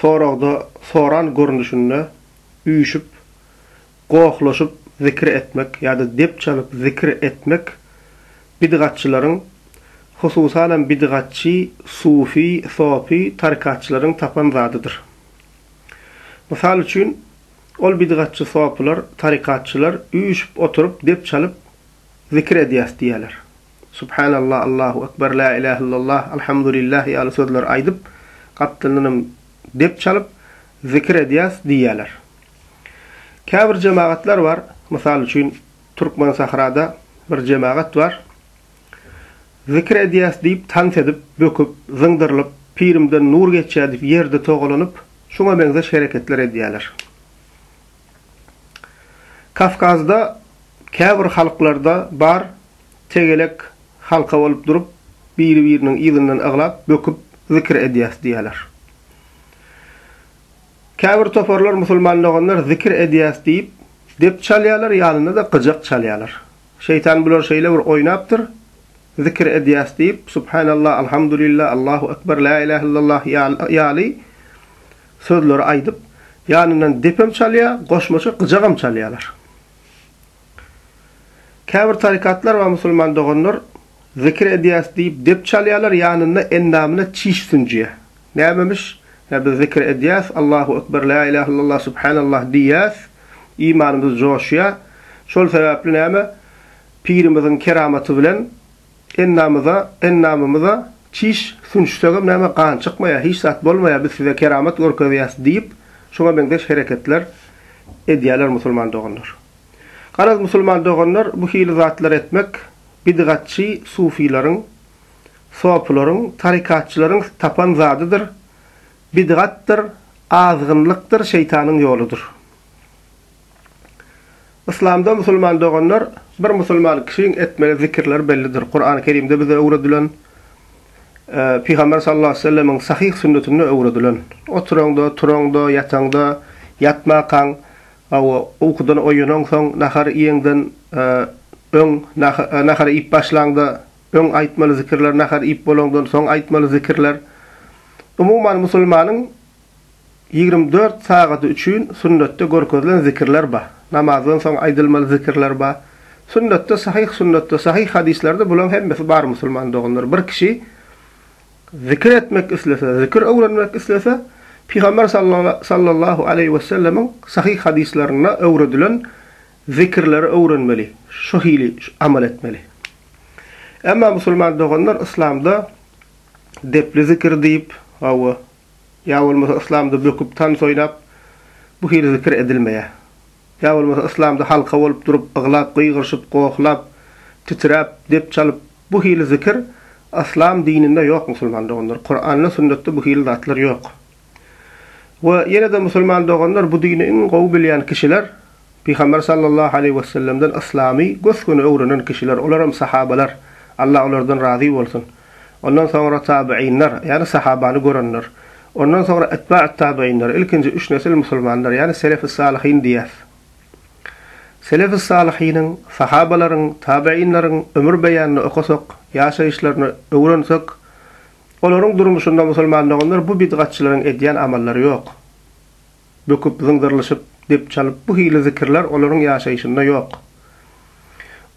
Soragda soran görnüşinde üýşüp, gohlaşyp zikir etmek ýa-da dep çalyp zikir etmek bidgatçylaryň, hususanam bidgatçy, sufi, sopy, tarykatçylaryň tapan zadydyr. Mysal üçin, ol bidgatçy sopylar, tarykatçylar üýşüp oturyp dep çalyp zikir edýäs diýýärler. Subhanallah, Allahu Ekber, Lä ilähe illallah, Alhamdulillah ýaly sözleri aýdyp, gapdalyndanam dep çalyp, zikir edýäs diýýärler. Käbir jemagatlar bar, mysal üçin, Türkmensahrada bir jemagat bar, zikir edýäs diýip, tans edip, böküp, zyňdyrlyp, pirimden nur geçýär diýip, ýerde togalanyp, şuňa meňzeş hereketler edýärler. Kawkazda, käbir halklarda bar, tegelek halka bolup durup, biri-biriniň yzyndan aglap, böküp zikir edýäs diýýärler. Käbir toparlar musulman doganlar zikir edýäs diýip, dep çalýarlar, ýanynda-da gyjak çalýarlar. Şeýtan bular şeýle bir oýnapdyr, zikir edýäs diýip, subhanallah, alhamdulillah, Allahu ekber, la ilahe illallah ýaly sözleri aýdyp, ýanyndan depem çalýar, goşmaça gyjagam çalýarlar. Käbir tarykatlar we musulman doganlar Zikir edýäs diýip dep çalýarlar, ýanynda endamyna çiş sünjýär. Nämemiş? Ýa biz zikir edýäs, Allahu ekber, la ilah illallah, subhanallah diýýäs, imanymyz joşýar. Şol sebäpli näme? Pirimiziň keramaty bilen Endamyza, endamymyza çiş sünçsegem näme gan çykmaýar, hiç zat bolmaýar, biz size keramat görkezýäs diýip, şuňa meňzeş hereketler edýärler musulman doganlar. Garaz musulman doganlar bu hili zatlar etmek bidgatçy sufileriň, sopylaryň, tarykatçylaryň tapan zadydyr, bidgatdyr, azgynlykdyr, şeýtanyň ýoludyr. Yslamda musulman doganlar bir musulman kişiň etmeli zikirleri bellidir. Kurany Kerimde bize öwredilen Pygamber sallallahu aleýhi we sellemiň sahyh sünnetinde öwredilen. Oturaňda, turaňda, ýataňda, ýatmakaň we ukydan oýanaňsoň, nahar iýeňden öň, nahar iýip başlaňda öň aýtmaly zikirler, nahar iýip bolaňdan soň aýtmaly zikirler. Umuman musulmanyň Ýigrimi dört sagady üçin sünnetde görkezilen zikirler bar. Namazdan soň aýdylmaly zikirler bar. Sünnetde sahyh sünnetde sahyh hadyslerde bulaň hemmesi bar musulman doganlar. Bir kişi zikir etmek islese, zikir öwrenmek islese, Pygamber sallallahu aleýhi wesellemiň sahyh hadyslarynda öwredilen zikirleri öwrenmeli, şu hili amal etmeli. Emma musulman doganlar yslamda depli zikir diýip, hawa, Ýa bolmasa yslamda böküp tans oýnap bu hili zikir edilmeýär. Ýa bolmasa yslamda halka bolup durup yglap gygyryşyp gohlap titräp dep çalyp bu hili zikir yslam dininde ýok musulman doganlar kuranda sünnetde bu hili zatlar ýok. We ýenede musulman doganlar bu dini iň gowy bilýän kişiler Pygamber sallallahu aleýhi wessellemden yslamy gös göni öwrenen kişiler olaram sahabalar Allah olardan razy bolsun. Ondan soňra tabyynlar, ýagny sahabany görenler. Ondan soňra etbaat tabyynlar, ilkinji üç nesil musulmanlar, ýagny selef-i salyhyn diýýäs. Selef-i salyhynyň, sahabalaryň, tabyynlaryň ömür beýanyny okasak, ýaşaýyşlaryny öwrensek, olaryň durmuşynda musulman doganlar bu bidgatçylaryň edýän amallary ýok. Böküp, zyňzyrlyşyp, dep çalyp bu hili zikirler olaryň ýaşaýşynda ýok.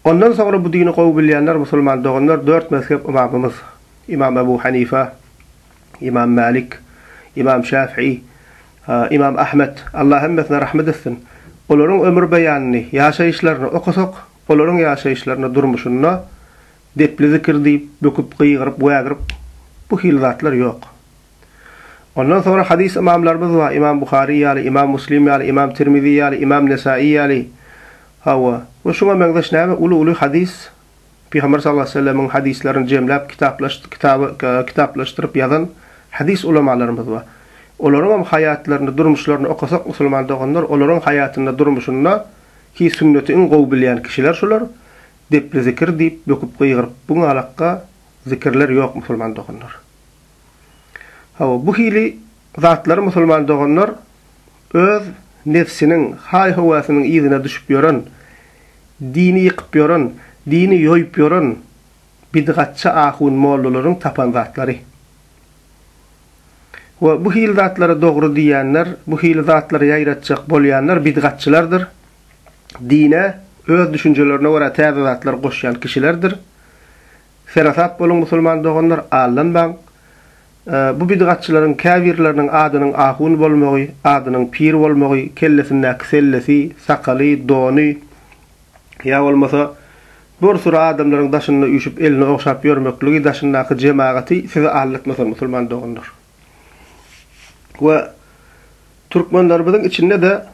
Ondan soňra bu dini gowy bilýänler musulman doganlar dört mezhep ymamymyz, Imam Ebu Hanife, Imam Malik, Imam Şäfii, Imam Ahmet, Allah hemmesine rahmet etsin, olaryň ömür beýanyny, ýaşaýyşlaryny okasak, olaryň ýaşaýyşlarynda, durmuşynda depli zikir diýip, böküp, gygyryp, wägirip bu hili zatlar ýok. Ondan soňra hadys ymamlarymyz bar, Ymam Buhary ýaly, Ymam Muslim ýaly, Ymam Tirmizi ýaly, Ymam Nesaýy ýaly. Hawa, we şuňa meňzeş näme uly-uly hadys Pygamber sallallahu aleýhi we sellemiň hadyslaryny jemläp kitaplaşdyryp ýazan hadys ulamalarymyz bar. Olaryňam haýatlaryny, durmuşlaryny okasak musulman doganlar, olaryň haýatynda, durmuşynda ki sünneti iň gowy bilýän kişiler şular, depli zikir diýip, böküp-gygyryp bu galakda zikirler ýok musulman doganlar. Hawa, bu hili zatlary musulman doganlar öz nebsiniň, haý-höwäsiniň yzyna düşüp ýören, dini ýykyp ýören, dini ýoýup ýören bidgatçy ahun mollalaryň tapan zatlary. We bu hili zatlary dogry diýýänler, bu hili zatlary ýaýratjak bolýanlar bidgatçylardyr, dine öz düşünjelerine görä täze zatlar goşýan kişilerdir. Serasap boluň musulman doganlar, aldanmaň! Bu bidgatçylaryň käbirleriniň adynyň ahun bolmagy, adynyň pir bolmagy, kellesindäki sellesi, sakaly, dony ýa bolmasa bir süri adamlaryň daşynda üýşüp elini ogşap ýörmekligi daşyndaky jemagaty sizi aldatmasyn musulman doganlar! We türkmenlerimiziň içinde-de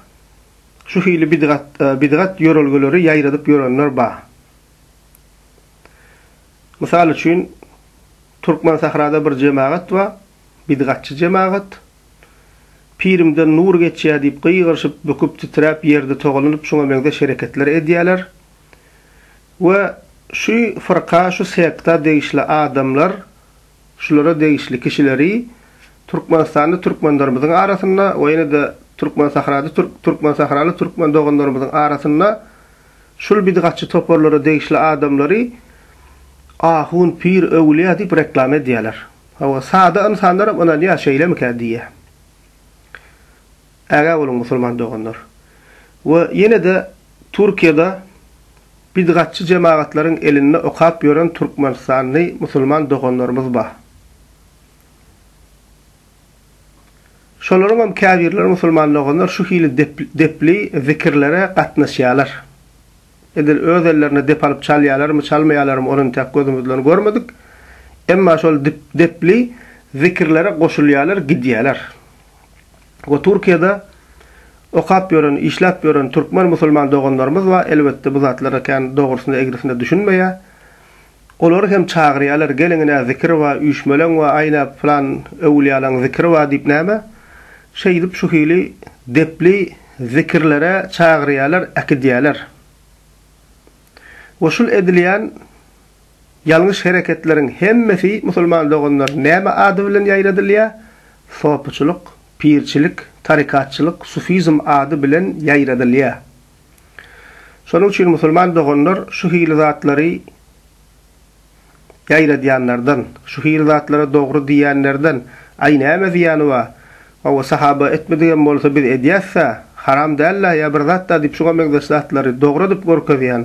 şu hili bidgat bidgat ýörelgeleri ýaýradyp ýörenler bar. Mysal üçin, Türkmensahrada bir jemagat bar, bidgatçy jemagat. Pirimden nur geçýär diýip gygyryşyp, büküp-titräp, ýerde togalanyp, şuňa meňzeş hereketler edýärler. We şu fyrka, şu sekta degişli adamlar, şulara degişli kişileri Türkmenistanda türkmenlerimiziň arasynda we ýene-de Türkmensahrada türk, türkmensahraly türkmen doganlarymyzyň arasynda Şul bidgatçy toparlara degişli adamlary ahun, pir, öwlýa diýip reklama edýäler. Hawa, sada ynsanlaram ynanýa, şeýlemikä diýýä. Ägä boluň musulman doganlar. We ýene-de Türkiýede bidgatçy jemagatlaryň elinde okap ýören türkmenistanly musulman doganlarymyz ba. Şolaryň hem käbirleri musulman doganlar şu hili depli zikirlere gatnaşýarlar. Edil öz ellerine dep alyp çalýarlarmy, çalmaýarlarmy, ony intäk gözümiz bilen görmedik. Emma şol depli zikirlere goşulýarlar, gidýärler. We Türkiýede okap ýören, işläp ýören türkmen musulman doganlarymyz bar, elbetde bu zatlara kän dogrusynda, egrisinde düşünmeýär. Olary hem çagyrýarlar, Geliň-ine, zikir bar, üýşmeleň we aýna pylan öwülýalaň zikiri bar diýip näme? Şeýdip şu hili depli zikirlere çagyrýarlar, äkidýärler. We şul edilýän ýalňyş hereketleriň hemmesi, musulman doganlar, näme ady bilen ýaýradylýar? Sopyçylyk, pirçilik, tarykatçylyk, sufizm ady bilen ýaýradylýar. Şonuň üçin musulman doganlar şu hili zatlary ýaýradýanlardan, şu hili zatlara dogry diýýänlerden, Aý, näme zyýany bar? Hawa, sahaba etmedigem bolsa biz edýäs-dä, haram däl-dä ýa bir zat-da diýip şuňa meňzeş zatlary dogry edip görkezýän,